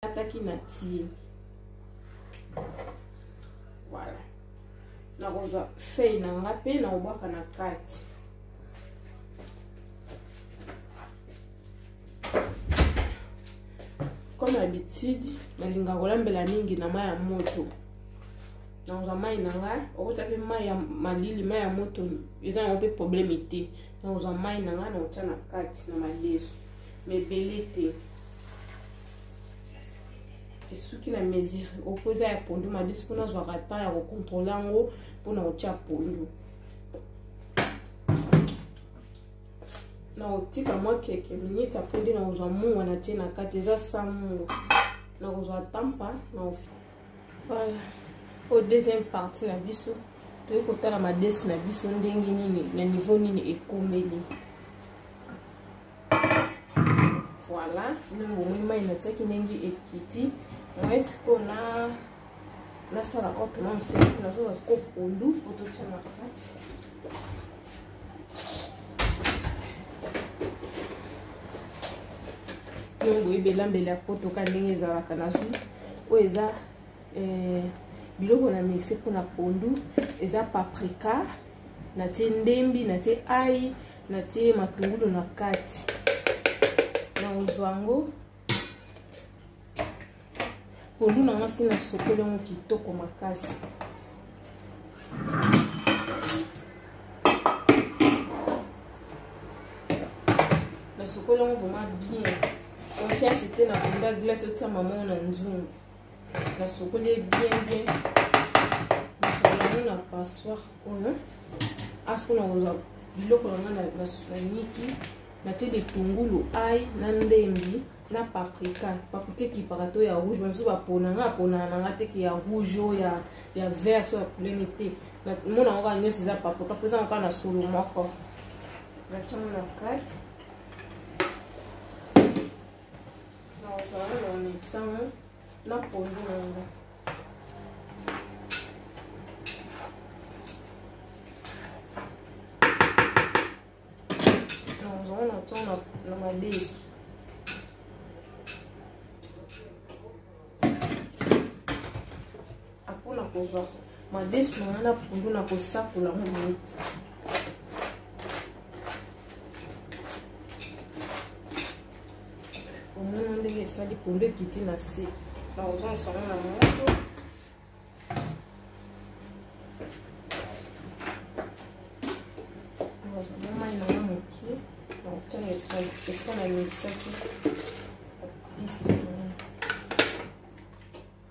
nakataki na tie voilà nakozwa feuille na nga mpe nakobwaka na kati comme habitude nalingaka kolambela mingi na mai ya moto nakozwa mai na ngai okotya mpe mai ya malili mai ya moto eza yango mpe probleme te nakozwa mai na ngai nakotya na kati na madesu mebele te esuki na mesure oyo mpo eza ya pondu madisi mpo nazwaka temps ya kocontrole yango mpo na kotya pondu nakotika mwa keke minute apres nde nakozwa mungwa na tie na kati eza sa mungwa nakozwa tampa na voilà oyo deuxième partie na biso toyei kotala madesi na biso ndenge nini na niveau nini ekomeli voilà bino bomoni mai natiaki ndenge ekiti mai sikoyo na nasala autrement moseki nazozwa sikoyo pondu po totya na kati ndenge boyebi elambeli ya poto ka ndenge ezalaka nazwi oyo eza eh, biloko na mixe mpona pondu eza paprika natie ndembi natie ai natie ye matungulu na kati nakozwa yango pondu na mwasi nasokoli yango kitoko makasi nasokoli yango vraimen bien confiance te na pondu ya glace otia mama na nzungu nasokoli ye bien bien nasokola yango na passoire oyo asiko nakozwa biloko na ngai na soiniki natie litungulu ai na ndembi na paprika paprika ekipaka to ya rouge bamisusu bapona ngai aponaka na ngai teke ya rouge o ya, ya vert so ya kulene te mona yango kaka nyonso eza paprika mpo ezango kaka na solo moko natyango na kati na pondu na yango nazongo na to na madesu apona kozwa madesu wana na pundu na kosakola ngo boye omona ndenge esali pundu ekiti na se na kozongisa ngo na moto mai na nga moke na kotanga esika na mikisaki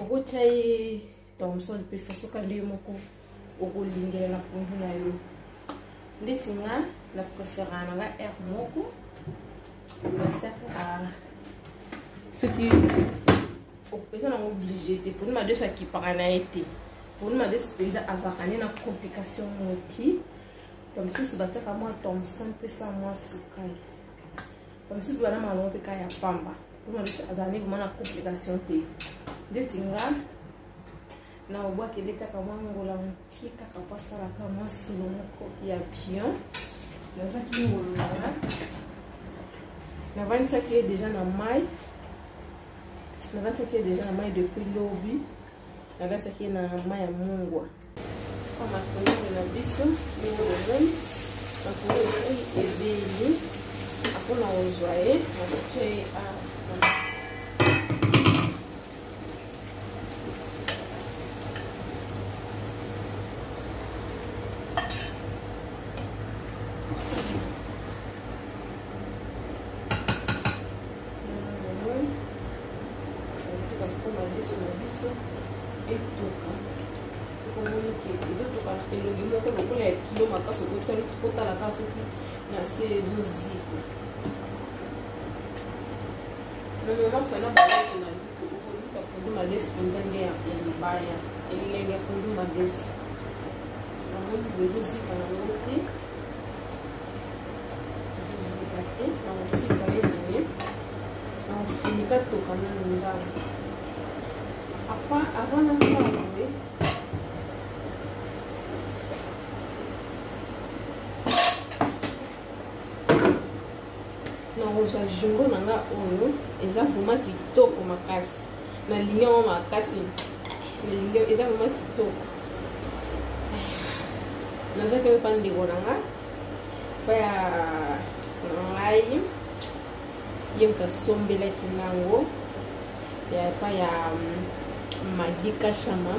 okotya ye thomson mpe fasoka nde moko okolingela na pondu na yo ndeti nga na préférant na nga aire moko pasteur soki eza nango oblige te poni madesu akipaka na ye te poni madesu mpenza azalaka nde na complication moti bamisusu batiaka mwa thomson mpesa mwa sukali bamisusu mpe banama na bango mpe kaka ya pamba mpona biso azali vraimen na complication te ndeti nga na obwaki ebetaka mwa ngola moke kaka mpo asalaka mwa solo moko ya pion nazwaki ngolo nanga navandisaki ye deja na mai navandisaki ye deja na mai depuis lobi navandisaki ye na mai ya mungwa makunini na biso ndenge bozali makunini ebeli mpona kozwa ye nakotia ye awa tika siko madesu na biso etoka soko omoni ke ezotoka elongi moko lokola ya kilo makasi okotya kotala ka soki na se ezozika na mama fana balati na lutu okoluka pondu madesu mpenza nde ya libaya elengi ya pondu madesu namoni boezozika na yango te nakozwa jungo na nga oyo eza vraimen kitoko makasi nalingi yango makasi nalingi eza vraimen kitoko nazwaki oyo pa ndeko na nga baya na ngai ye moto asombelaki nango ya epa ya magi kashama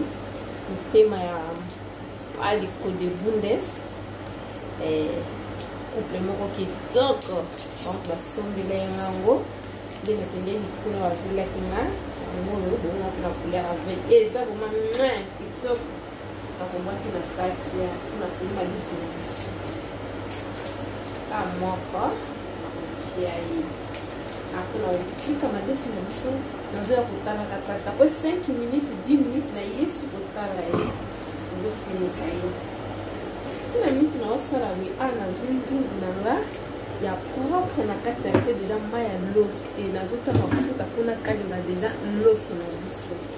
motema ya aliko de bundes eh, couple moko kitoko donc basombela ye nango nde nakende likolo bazolaki nga yango oyo bongo na couleur ya vert eza vraimen kitoko nakomaki na kati ya mpona koyima biso na biso ka moko nakotia ye apo na kotika madesu na biso nazoya kotalaka tata po 5 minutes 10 minutes na yesu kotala ye tozofunika ye ntina minute naosala wi a nazwi nzingu na nga ya propre na kati na tie deja mai ya loso e nazotya mafuta mpo nakalinga deja loso na biso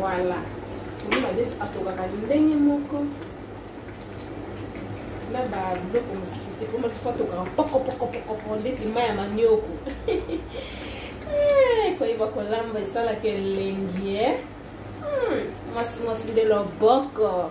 voilà tomoni madesu atokaka ndenge moko na babiloko mosusu te mpo madesu atokaka pokopokopokoko ndeti mai ya manioko eh, koyeba kolamba esalaka elengi eh? hmm, mwasi mwasi nde loboko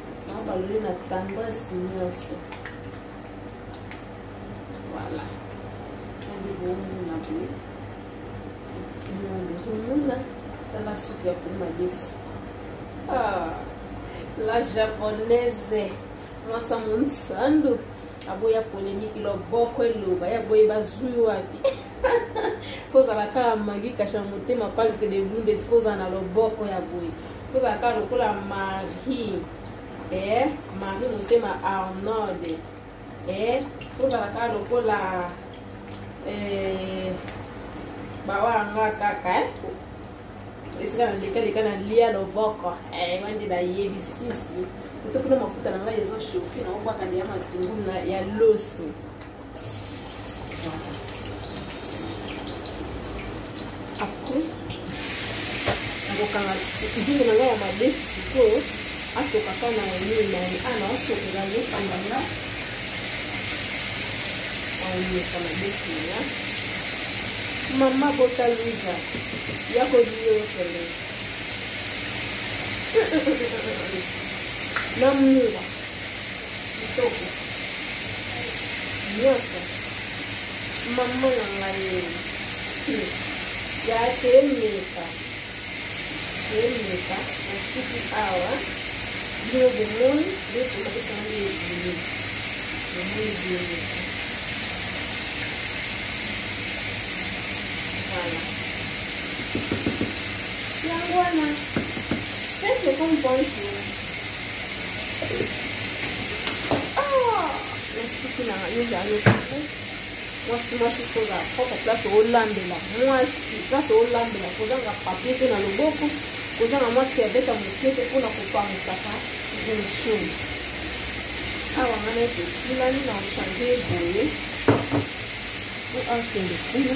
nabaloli na tendresse nyonso voilà ebibomona boye bozomona tala suki ya koma yesu ah, la japonaise mwasa monsandu aboya polemiki loboko eloba yaboye bazwi wapi kozala kaka magi kasha motema palke de bundes kozala na loboko ya boye Toza ka lokola Marie. Eh, Marie Motema Arnold. Eh, toza ka lokola eh bawa nga kaka eh. esika nalekaleka na lia loboko eh, wande bayebisisi kutu kuna mafuta na ngai ezoshofina obwaka nde ya matungulu ya loso après nakokanga nzungu na ngai ya madesu sikoyo atokaka na elili na ye ana asokela yosanga nga aoyoka madesu na ya mama bota luiza ya koliyo yokende na mua Kitoko. Nyoso. Maman na ngai. Ya kemeka. Kemeka. Nasiki awa. Bino bomoni. Nde tomaki kango ebele. Bomoni ebele. Voilà. Tiango wana. Seke comme bonjour. mwasi mwasi koza propre place olambela mwasi place olambela kozanga papie te na loboko kozanga mwasi abeta moke te mpona kopangisaka version awa ngana ete esilani na ochange boye po akende kuna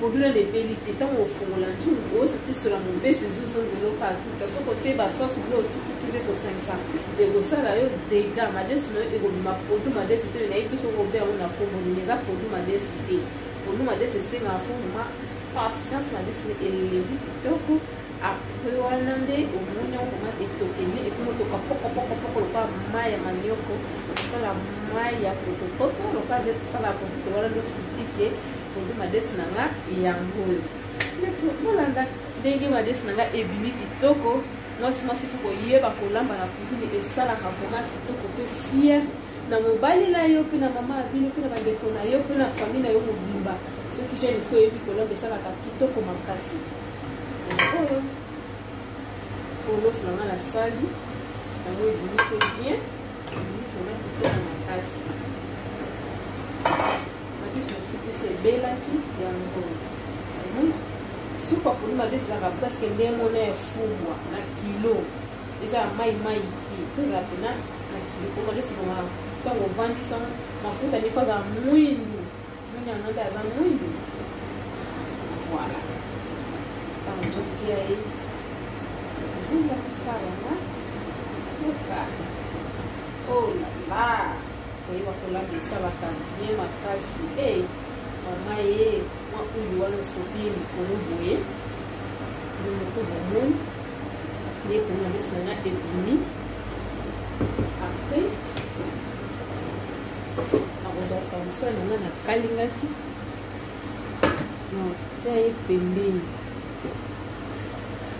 Problème ebeli te tango ofongola nzungu ozotisola mobesu ezozongelo katuta soki otie basosi blo otukutu nde kosangisa ekosala yo dega madesu na yo ekobima produit madesu te nayebi biso okobe yango na kombo nini eza produit madesu te produit madesu esengaka fo mama patience madesu ne eleli kitoko apres wana nde omoni yango mama etoke nde ekomotoka pokopokopoko lokola mai ya manioko lokola mai ya potopoto lokola nde tosala pototo wana nde osutike produit madesi na nga yango oyo bolanda ndenge madesi na nga ebimi kitoko mwasi mwasi fo koyeba kolamba na cuisine esalaka vraimen kitoko mpe fiere na mobali na yo mpe na mama ya bino mpe na bandeko na yo mpe na famille na yo mobimba soki jeune fo oyebi kolamba esalaka kitoko makasi oyo oloso na nga nasali yango ebimi mpe bien ebimi vraimen kitoko makasi Madesu na biso pesa ebelaki yango hmm? supu ya pondu madesu ezalaka presque nde mona ya fumwa na kilo eza ya mai mai te fo ezala pena na kilo po madesu bonga ntango ovandi sango mafuta nde fo azala mwindu mwindu yango nde aza mwindu voilà ntango ozotia ye ozongakisa yango oka olala oh koyeba kolamba esalaka bien makasi e mama ye mwa oyo wana osopi ye likolo boye yo moko bomoni nde komona miso na nga ebimi apres akozwaka mosala na nga nakalingaki natya ye pembeni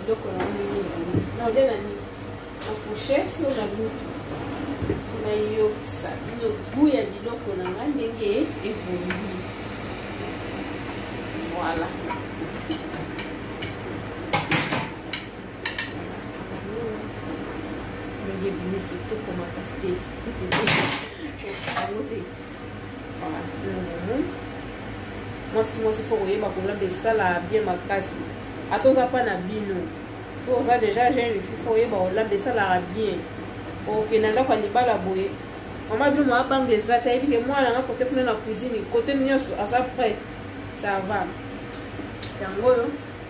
eloko na nini nini na olia na nini na fourchette yo na lutu nayokisa bino gu ya biloko na ngai ndenge ebongi voilà ndenge ebimi kitoko makasi te mwasi mwasi fo koyeba kolamba esala bien makasi ata oza mpa na bino fo oza deja jeune fi fo oyeba kolamba esalaka bien okenda ndako ya libala boye mama bino mwa banga eza te ayebi ke mwana nga kote kuna na cuisine kote nyonso aza prêt ça va yango oyo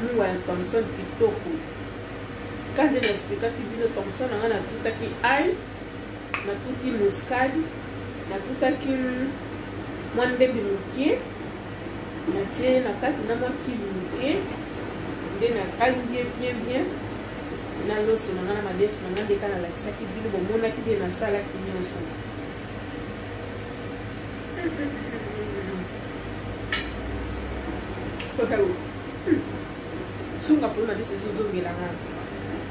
Lungwa ya Thomson kitoko. Kande na explikaki bino Thomson nanga natutaki ai, natuti muskadi, natutaki mwa ndembi moke, natie na kati na mwa kili moke, nde nakangi ye bien bien na loso na nga na madesu na nga ndeka nalakisaki bino bomonaki nde nasalaki nyonso sunga mpo na biso ezozongela nga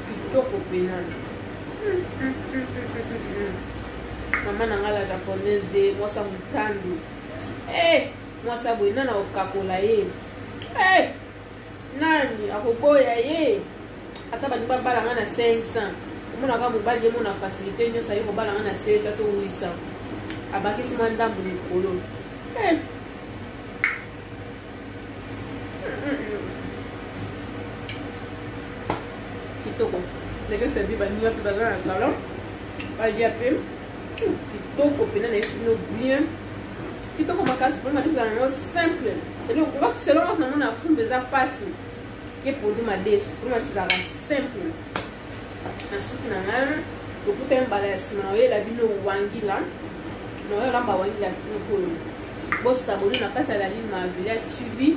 kitoko mpena mama na nga la japonaise mwasa motandu eh, mwasa boye nana okakola ye eh, nani akoboya ye ata balingi babala nga na 500 omonaka mobali ye mona facilité nyonso aye kobala nga na 7 ato 800 abakisi mwa ndambo likolo eh. kitoko ndenge servi baninga mpe baza na salon balia mpe kitoko mpena na ye sino bien kitoko makasi poli madesu ezala na yo simple eloko selon waka nango na fumba eza mpasi ke poli madesu poli madesu ezalaka simple na suki na ngai lokuta ye mbala ya nsima oyela bino wangila naoyo olamba wangila kikolo bosaboli na kati ya lalima villa tv